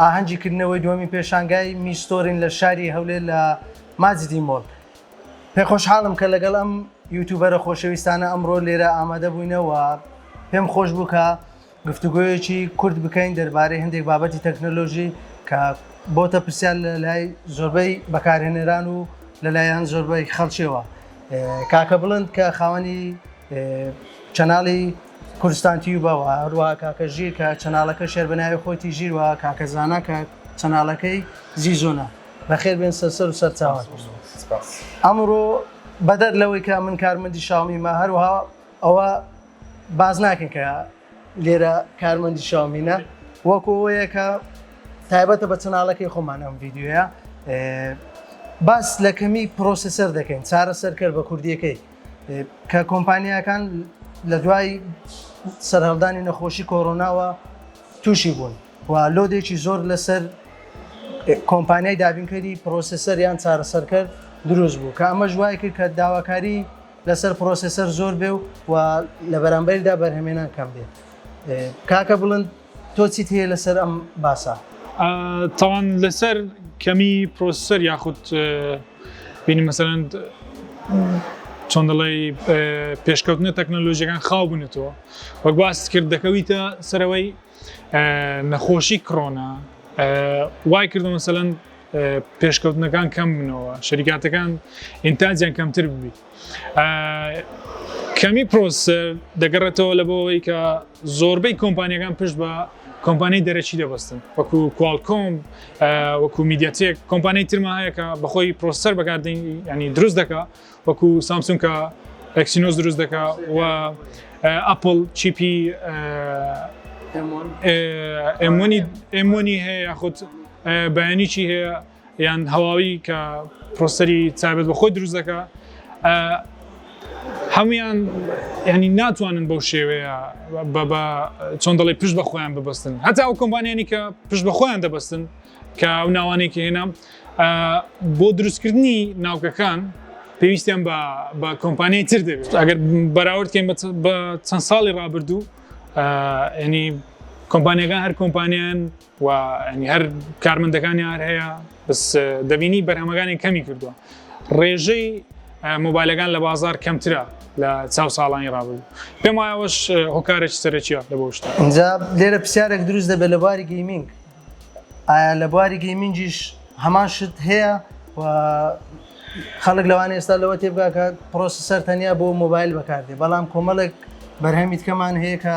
ئاهەنگی کردنەوەی دووەمین پێشانگای میستۆرین لە شاری هەولێر لە ماجدی مۆڵ پێ خۆشحاڵم کە لەگەڵ ئەم یوتوبەرە خۆشەویستانە ئەمڕۆ لێرە ئامادە بووینەوە پێم خۆش بوو کە گفتوگوۆیەکی کورد بکەین دەربارەی هەندێک بابەتی تەکنەلۆژی کە بۆتە پرسیار لە لای زۆربەی بەکارهێنەران و لەلایەن زۆربەی خەڵچەوە کاکە بڵند کە خاوەنی چەناڵی کوردستان تیوبە و هەروەها کاکە ژیر کە چەناڵەکە شێر بە ناوی خۆیتی ژیر و کاکە زانا کە چەناڵەکەی زیزونە بەخێر بێن سەر سەر و سەر چاوان ئەمڕۆ بەدەر لەوەی کە من کارمەندی شاومیمە هەروها ئەوە باز ناکەن کە لێرە کارمەندی شاومینە وەکۆەیە کە تایبەتە بە چەناڵەکەی خۆمان ئەم ڤیددیوە باس لە کەمی پرۆسسەر دەکەین چارە سەرکەر بە کوردیەکەی کە کۆمپانیاکان لە دوای سەرهەڵدانی نەخۆشی کۆرۆناوە تووشی بوون و لۆدێکی زۆر لەسەر کۆمپانیای دابینکەری پرۆسسەر یان چارەسەرکەر دروست بوو کە ئەمە ژوای کرد کە داواکاری لەسەر پرۆسسەر زۆر بێ و و لە بەرامبەردا بەرهەمێنان کەم بێت کاکە بڵند تۆ چیت هەیە لەسەر ئەم باسە؟ تاوان لەسەر کەمی پرۆسەر یاخود بینی مەسەرەن چۆن دەڵی پێشکەوتنە تەکنەلۆژیەکان خاو بنێتەوە وەک باست کرد دەکەویتە سەرەوەی نەخۆشی کڕۆنا وای کردو مەسەەن پێشکەوتنەکان کەم بنەوە شەریکاتەکان ئینتاجیان کەمتر ببیت کەمی پرۆسەر دەگەڕێتەوە لە بۆەوەی کە زۆربەی کۆمپانیەکان پشت بە کۆمپانی دەرەکی دەبستن وەکو کوالکۆم وەکو میدیاتێک کۆمپانی ترما هەیەکە بەخۆی پرۆسەر بەکاردین ینی دروست دەکە وەکو سامسون کە ئەکسینۆز دروست دەکە و ئەپل چیپی ئەمۆنی هەیە یاخود بەیانیی هەیە یان هەواوی کە پرۆسەری تایبەت بە خۆی دروست دەکا هەمویان ینی ناتوانن بەو شێوەیە بە چۆن دەڵی پشت بە خۆیان ببستن هەتا ئەو کۆمبانیانی کە پشت بە خۆیان دەبستن کە ئەو ناوانێکی هێنام بۆ دروستکردنی ناوکەکان پێویستیان بە کۆمپانیای تر دەبێت ئەگەر بەراوردکەین بە چەند ساڵی ڕابردوو ینی کۆمپانیەکان هەر کۆمپانیان و هەر کارمەندەکانی هەر هەیە بس دەبینی بەرهەمەکانی کەمی کردووە ڕێژەی مۆبایلەکان لە بازار کەمترە لە چاو ساڵانی ڕابوو پێم وایەوەش هۆکارێک سەرەکیە لە بۆشتا ئەجا لێرە پرسیارێک دروست دەبێت لە باری گەیمینگ ئایا لە بواری گەیمینجیش هەمان شت هەیە و خەڵک لەوان ئێستا لەوە تێبگاکە پرۆسیسەر تەنیا بۆ مۆبایل بەکاردێ بەڵام کۆمەڵێک بەرهەمی تکەمان هەیە کە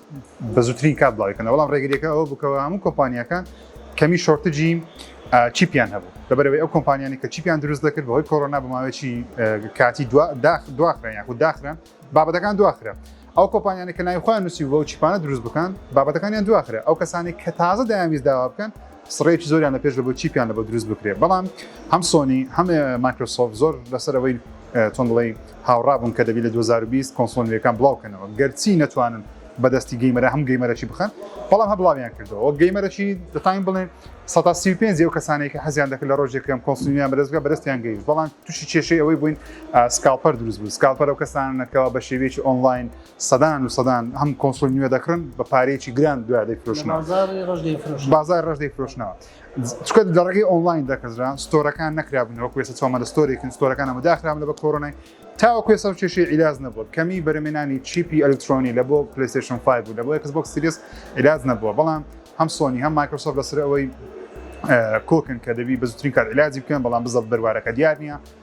بە زووترین کات بڵاوی کەنەوە بەڵام ڕێگریەکە ئەوە بکەوە هەموو کۆمپانیەکان کەمی شۆرتجی چیپیان هەبوو لەبەرەوەی ئەو کۆمپانیانی کە چیپیان دروست دەکرد بەهۆی کۆرۆنا بەماوەیەکی کاتی دواخران یاخود داخران بابەتەکان دواخرا ئەو کۆپانیانی کە ناوی خۆیان نووسی بۆ چیپانە دروست بکەن بابەتەکانیان دواخرا ئەو کەسانی کە تازە دایانویست داوا بکەن سڕێکی زۆریان لە پێش دەبوو چیپیان لە بۆ دروست بکرێت بەڵام هەم سۆنی هەم مایکرۆسۆفت زۆر لەسەر ئەوەی چۆن بڵێی هاوڕا بوون کە دەبی لە 2020 کۆنسۆڵ نوێکان بڵاو کەنەوە گەرچی نەتوانن بەدەستی گەیمەرە هەم گەیمەرەی بخەن بەڵام هە بڵاویان کردەوە وەک گەیمەرەی دەتوانین بڵێن 135 ئەو کەسانێک کە حەزیان دەکرد لە ڕۆژێکم کۆنسلیان بەدەستگە بەرستیان گەیشت بەڵام تووشی کێشەی ئەوەی بووین سکاڵپەر دروست بوو سکاڵپەر و کەسانەکەەوە بە شێوێکی ئۆنلاین سەدان و سەدان هەم کۆنسۆل نوێ دەکڕن بە پارەیەکی گران دوای دەیفرۆشنەوە بازاری ڕەش دەیفرۆشن بازاری ڕەش دەیفرۆشنەوە چونکە لە ڕێگەی ئۆنلاین دەکردران ستۆرەکان نەکرابوونەوە کوێسە چۆمە لە ستۆرێکن ستۆرەکان ئەمە داخرام لە بە کۆرۆنای تاوە کوێسە و کێشی عیلاج نەبووە کەمی بەرەمێنانی چیپی ئەلکترۆنی لە بۆ پلیسشن 5 بوو لە بۆ یکس بۆکس سریس عیلاج نەبووە بەڵام هەم سۆنی هەم مایکرۆسۆف لەسەر ئەوەی کۆکن کە دەبی بە زوترین کات علاجی بکەن بەڵام بزە بەروارەکە دیار نییە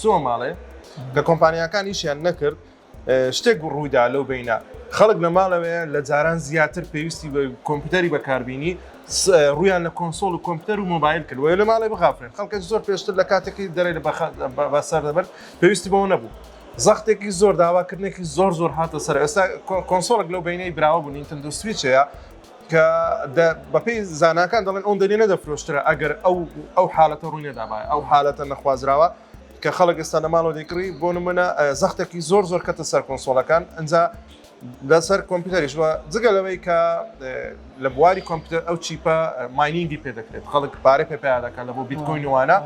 چووە ماڵێ لە کۆمپانیاکان ئیشیان نەکرد شتێک ڕوویدا لەو بینە خەڵک لە ماڵەوەیە لە جاران زیاتر پێویستی بە کۆمپیوتەری بەکاربیینی ڕویان لە کۆنسۆڵ و کۆمپیوتەر و مۆبایل کردوە لە ماڵی بغافرێن خەڵکە زۆر پێشتر لە کاتێکی دەرێ لە بەسەر دەبەر پێویستی بەوە نەبوو زەختێکی زۆر داواکردنێکی زۆر زۆر هاتە سەر ئێستا کۆنسۆڵک لەو بینەی براوە بوو نینتەندو سویچەیە کە بەپێی زاناکان دەڵێن ئەو دەنێ نەدەفرۆشترا ئەگەر ئەو ئەو حالەتە ڕووی نەدابایە ئەو حالەتە نەخوازراوە کە خەڵک ئێستا لە ماڵەوە دەیکڕی بۆ نمونە زەختێکی زۆر زۆر کەتە سەر کۆنسۆلەکان ئەجا لەسەر کۆمپیوتەریش وە جگە لەوەی کە لە بواری کۆمپیوتەر ئەو چیپە ماینینگی پێ دەکرێت خەڵک پارە پێ پیا دەکات لە بۆ بیتکۆین وانە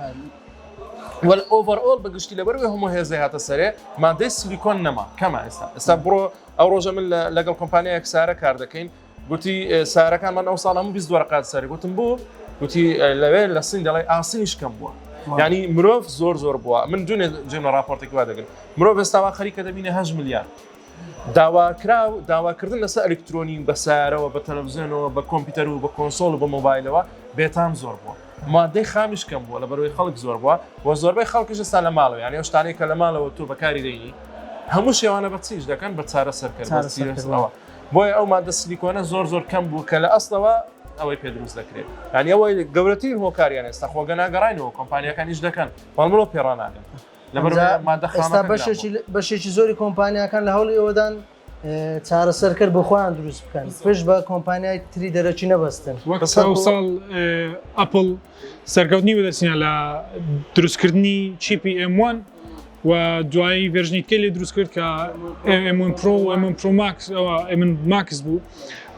وەل ئۆڤەرئۆل بەگشتی لەبەروێ هەموو هێزە هاتە سەرێ مادەی سلیکۆن نەما کەمە ئێستا ئێستا بڕۆ ئەو ڕۆژە من لەگەڵ کۆمپانیایەک سارە کار دەکەین گوتی سارەکان من ئەو ساڵ هەموو بیست دۆرە قات سەری گوتم بۆ گوتی لەوێ لە سین دەڵێ ئاسنی شکەم بووە ینی مرۆڤ زۆر زۆر بووە من دوێ جێمە راپۆرتێکی وا دەگرن مرۆڤ ئێستاوا خەریکە دەبینە هەش ملیار داواکرا و داواکردن لەسە ئەلکترۆنی بە سارەوە بە تەلەڤزیۆنەوە بە کۆمپیوتەر و بە کۆنسۆل و بە مۆبایلەوە بێتام زۆر بووە مادەی خامیش کەم بووە لە بەرەوەی خەڵک زۆر بووە و زۆربەی خەڵکیش ستا لە ماڵەوە یانە شتانێکە لە ماڵەوە تۆ بەکاری دەینی هەموو شێوانە بە چیش دەکەن بە چارە سەرکردەوە بۆیە ئەو ماددە سلیکۆنە زۆر زۆر کەم بوو کە لە ئەسڵەوە ئەوەی پێ دروست دەکرێت یانی ئەوەی گەورەترین هۆکاریان ئێستا خۆگە ناگەڕینەوە کۆمپانیەکان نیش دەکەن بەڵمەوە پێڕناگەن بەشێکی زۆری کۆمپانیەکان لە هەوڵی ئەوەدان چارەسەرکرد بۆ خۆیان دروست بکەن پێش بە کۆمپانیای تری دەرەکی نەبەستن ساڵ ئەپل سەرکەوتنی بەدەستهێنا لە دروستکردنی چیپی M1 و دوایی ڤێرژنی تکەی لێ دروست کرد کە M1 Pro و M1 Pro Max ئەوە M1 Max بوو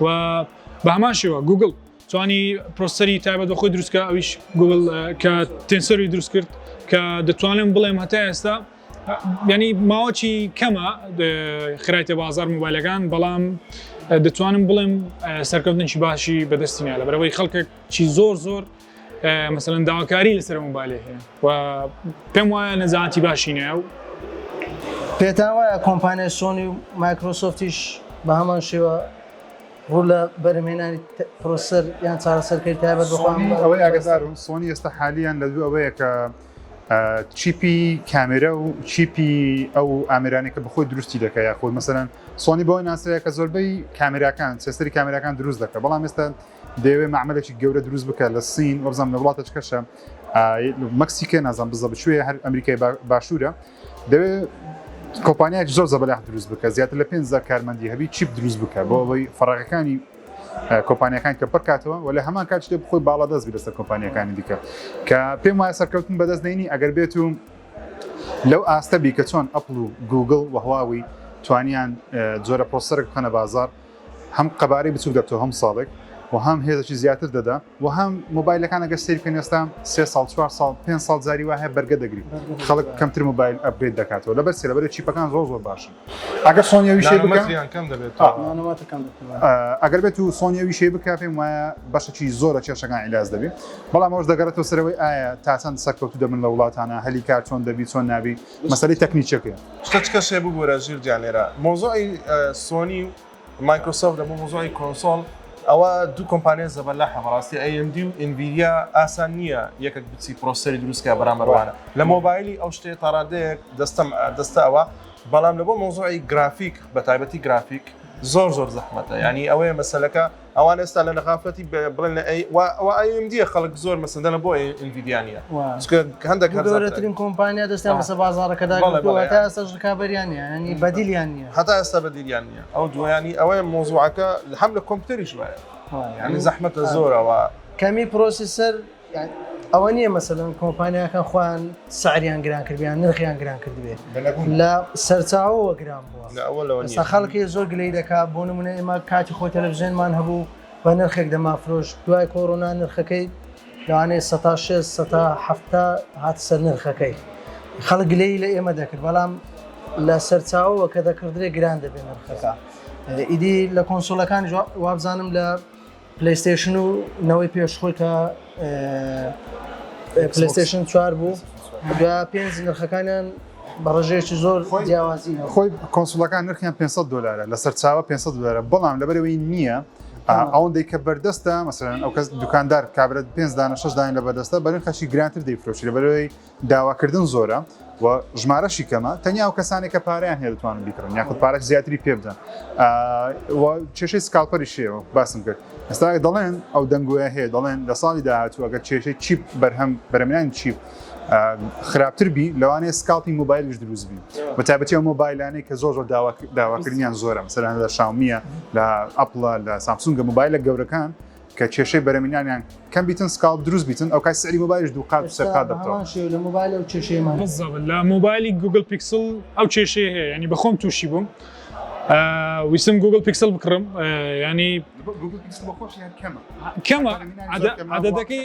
و بە هەمان شێوە گوگل توانی پرۆسەری تایبەت بە خۆی دروستکە ئەویش گوگل کە تێنسەری دروست کرد کە دەتوانم بڵێم هەتا ئێستا ینی ماوەچی کەمە خرايتە بازار موبایلەکان بەڵام دەتوانم بڵێم سەرکەوتنی باشی بەدەستینا لە بەرەوەی خەڵکێک چی زۆر زۆر مەسەن داواکاری لەسەر مۆبایلێ هەیە و پێم وایە نەزانتی باشی نایە و پێتا وایە کۆمپانیای سۆنی و مایکرۆسۆفتیش بە هەمان شێوە ڕوو لە بەرمێنانی پرۆسەر یان چارەسەرکەی تابەت ئەوەی ئاگدار و سۆنی ئێستا حالیان لە دوو ئەوەیە کە چیپی کامێرە و چیپی ئەو ئامرانێک کە بەخۆی دروستی دەکە یاخود مەسەن سۆنی بۆی ناسەیە کە زۆربەی کامراکان سێسری کامراکان دروست دەکە بەڵام ئێستا دەیەوێ مەعمەلێکی گەورە دروست بکە لە سین وەبزانم لە وڵاتە چکەشە مەکسیکە نازان بزە بچێ هەر ئەمریکای باشوورە دەوێ کۆپانیایك زۆر زەبەلاح دروست بکە زیاتر لە 5 کارمەندی هەبی چیپ دروست بکە بۆ ئەوەی فەڕەکەەکانی کۆپانیەکان کە پڕکاتەوە و لە هەمان کات شتێ بخۆی باڵا دەست لەسەر کۆپانیەکانی دیکە کە پێم وایە سەرکەوتن بەدەست دێنی ئەگەر بێت و لەو ئاستەبی کە چۆن ئەپل و گوگل وهواوی توانیان جۆرە پۆسەرک بخەنە بازار هەم قەبارەی بچوک دەبتەوە هەموو ساڵێک و هەم هێزێکی زیاتر دەدا و هەم مۆبایلەکان ئەگەر سەیر بکەن ئێستا سێ ساڵ چوار ساڵ پێنج ساڵ جاری وا هەیە بەرگە دەگری خەڵک کەمتر مۆبایل ئەپگرید دەکاتەوە لەبەر چی لەبەر چیپەکان زۆر زۆر باشن ئەگەر سۆنی ئەو ویشەی بکا نانۆمەتریان کەم دەبێت ئا. نانۆمەتر کەم دەبێت ئا. ئەگەر بێت و سۆنی ئەو ویشەی بکا پێم وایە بەشێکی زۆر لە کێشەکان عیلاج دەبی بەڵام ئەوەش دەگەڕێتەوە سەرەوەی ئایا تا چەند سەرکەوتوو دەبن لە وڵاتانا هەلی کار چۆن دەبی چۆن نابی؟ مەسەلەی تەکنیکیەکەیە. شتە چ کەسێ ببورە ژیر گیان لێرە مەوزوعی سۆنی و مایکرۆسۆفت دەبوو مەوزوعی کۆنسۆڵ ئەوە دوو کۆمپانیا زەبەلاحە بەڕاستی ئەی ئێم دی و ئینڤیدیا ئاسان نییە یەکێک بچی پرۆسەری دروستکە بەرامبەروانە لە مۆبایلی ئەو شتێ تاڕادەیەک دەستەم دەستە ئەوە بەڵام لە بۆ مەوزوعی گرافیک بە تایبەتی گرافیک زۆر زۆر زەحمەتە ینی ئەوەیە مەسەلەکە ئەوان ئێستا لە نەغافەتی بڵێن لە ئەی ئەو ئایم دیە خەڵک زۆر مەسەندەە بۆ ئینڤیدیانە هەندێک گەورەترین کۆمپانیا دەستیان بەسە بازارەکەدا تا ئێستا ڕکابەریان نیانی بەدیلیان نیە هەتا ئێستا بەدیلیان نیە ئەو دویانی ئەوەیە مۆزوعەکە هەم لە کۆمپیوتەریش وایە ینی زەحمەتە زۆرەوە کەمی پرۆسیسەر ئەوە نیە مەسەلەن کۆمپانیاکان خۆیان سعریان گران کردیان نرخیان گران کردبێ لە سەرچاوەوە گران بووە خەڵکی زۆر گلەی دەکات بۆ نمونە ئێمە کاتی خۆی تەلەڤزیێنمان هەبوو بە نرخێک دەمافرۆش دوای کۆرۆنا نرخەکەی لەوانەیە سە هەفتا هات سەر نرخەکەی خەڵک گلەی لە ئێمە دەکرد بەڵام لە سەرچاوەوە کە دەکردێ گران دەبێن نرخەکە ئیدی لە کۆنسۆلەکان وابزانم لە پلەیستەیشن و نەوەی پێش خۆی کە پلەیستەیشن چوار بوو دوای پێنج نرخەکانیان بە ڕژێکی زۆر خۆی جیاوازی خۆی کۆنسلەکان نرخیان 500 دلارە لە سەرچاوە 500 دلارە بەڵام لەبەرەوەی نییە ئەوەندەی کە بەردەستە مەسەرەن ئەو کەس دوکاندار کابرێت پێنج دانە شش داین لە بەردەستە بەرن خەشی گرانتر دەیفرۆشی لە بەرەوەی داواکردن زۆرە و ژمارەشی کەمە تەنیا و کەسانێک کە پاریان هەیە دەتوانن بیکڕن یاخود پارک زیاتری پێ بدەن کێشەی سکاڵپەری شێوە باسم کرد ئێستا دەڵێن ئەو دەنگۆە هەیە دەڵێن لە ساڵی داهاتوو ئەگەر کێشەی چیپ بەرهەم بەرەمیان چیپ خراپتر بی لەوانەیە سکاڵپی مۆبایلش دروست بی بە تابەتی ئەو مۆبایلانەی کە زۆر زۆر داواکردنیان زۆرە مەسەران لە شاومیە لە ئەپڵە لە سامسونگە مۆبایلە گەورەکان کە کێشەی بەرەمینانیان کەم بیتن سکاڵ دروست بیتن ئەو کای سەری مۆبایلش دوو قات سەر قات دەبتەوە شێو لە مۆبایل ئەو کێشەیەمان بالضبط لە مۆبایلی گوگل پیکسل ئەو کێشەیە هەیە ینی بەخۆم تووشی بووم ویستم گوگل پیکسل بکڕم ینی کەمە عددەکەی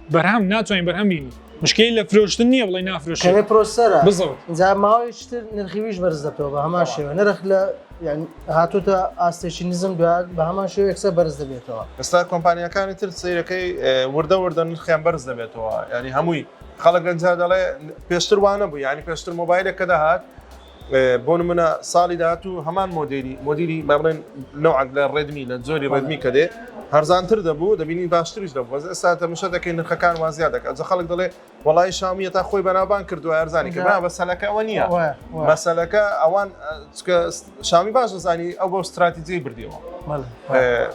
بەرهەم ناتوانین بەرهەم بینی مشکلی لە فرۆشتن نییە بڵێ نافرۆش کەێ پرۆسەرە بزەوت جا ماوەیشتر نرخیویش بەرز دەبەوە بە هەمان شێوە نرخ لە هاتوتە ئاستێکی نزم دوات بە هەمان شێو یەکسە بەرز دەبێتەوە ئستا کۆمپانیەکانی تر سیرەکەی وردە وردە نرخیان بەرز دەبێتەوە ینی هەمووی خەڵک گەنجا دەڵێ پێشتر وانە بوو ینی پێشتر مۆبایلێک کە دەهات بۆ نمونە ساڵی داهاتوو هەمان مۆدێلی مۆدیلی با بڵێن نەوعەک لە ڕێدمی لە جۆری ڕێدمی کە دێ هەرزانتر دەبوو دەبینین باشتریش دەبوو بەس ئێستا تەمشە دەکەین نرخەکان وا زیاد دەکات جە خەڵک دەڵێ وەڵی شامیە تا خۆی بەناوبان کردو ئەرزانی کە بە سەلەکە ئەوە نییە مەسەلەکە ئەوان شامی باش دەزانی ئەو بۆ استراتیجی بردیەوە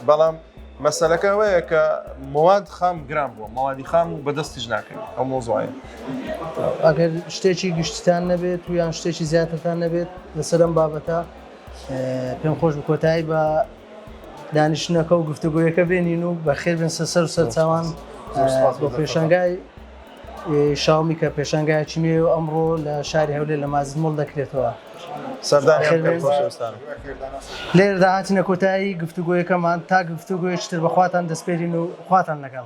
بەڵام مەسەلەکە ئەوەیە کە مواد خام گران بووە مەوادی خام و بەدەستیش ناکەین ئەو مۆزۆایە ئەگەر شتێکی گشتتان نەبێت و یان شتێکی زیاترتان نەبێت لەسەر ئەم بابەتە پێم خۆش بکۆتایی بە دانیشتنەکە و گفتوگویەکە بێنین و بەخێبن سەسەر و سەرچوان بۆ پێشنگای شاومی کە پێشانگایەکی نوێ و ئەمڕۆ لە شاری هەولێر لە مازن مۆڵ دەکرێتەوە. لێرەدا هاتینە کۆتایی گفتوگۆیەکەمان، تا گفتوگۆیەکی تر بە خواتان دەسپێرین و خواتان لەگەڵ.